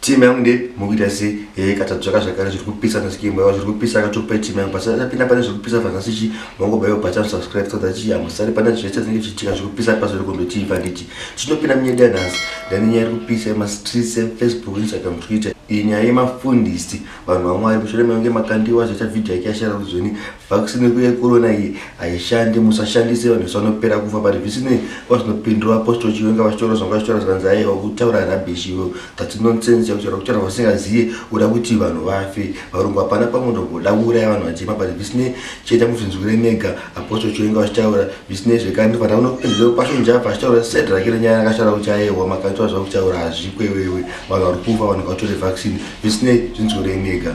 team yangu nde mukuita se eh, katadzvaka zvakare zviri kupisa nhasi kimbawa zviri kupisa akatopai team yangu basa tapinda pane zviri kupisa vanhasi chi mangobaiwa bhacha subscribe so that chi amusari pana zvese zvinenge zvichiitika zviri kupisa pasi ri kundotii panditi tinopinda munyeda nhasi ndani nyaya iri kupisa yemastreets efacebook instagram twitter iyi nyaya yemafundisi vanhu vamwari mushure mekunge makandiwa zvaita vhidhiyo yake yashara ruzoni Vaccine kuye corona iyi haishandi musashandise vanhu vese vanopera kufa but zvisinei vazvinopindura apostle chiwenga vachitaura zvanga vachitaura zvikanzi aiwa kutaura rubbish ivo that's nonsense yakutaura kutaura vasingaziye uda kuti vanhu vafe varungu hapana pamwe ndogoda kuuraya vanhu vachema but zvisinei chiita muzvinzwire mega apostle chiwenga vachitaura zvisinei zvekare ndifanira kunopindura pasho njava achitaura sed rake renyaya yakashara kuti aiwa makaitwa zvakutaura hazvikwewewe vanhu vari kufa vanhu vatore vaccine zvisinei zvinzwire mega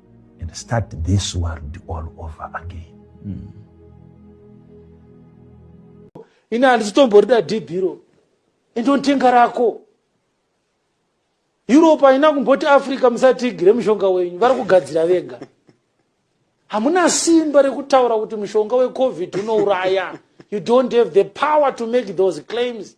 and start this world all over again mm. ini handisitomborida dhibhiro indontenga rako europe haina kumboti africa musatigire mushonga wenyu vari kugadzira vega hamuna simba rekutaura kuti mushonga wecovid unouraya you don't have the power to make those claims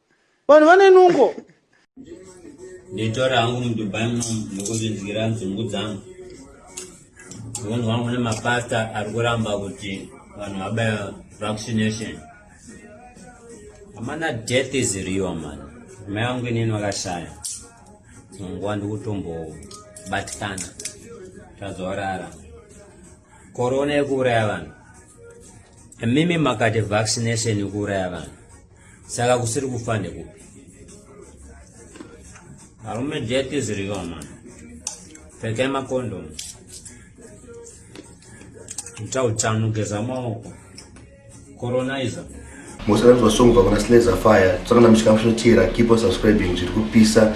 vanhu vane nungo nditora hangu mudubai muno ndikuzvinzwira nzungu dzangu unhu wangu nemapasta ari kuramba kuti vanhu vabaya vaccination amana death is real man mai vangu inini vakashaya nguva ndikutombobatikana tazorara korona yekuuraya vanhu mimi makati vaccination yekuuraya vanhu Saka kusiri kufa ndekupi? Arume jet is real man. Pfekai makondo. Ita utano geza maoko. Coronizer. Musanzwa song vakona Slazer Fire. Tsakana mishika mshotira. Keep on subscribing. Zviri kupisa.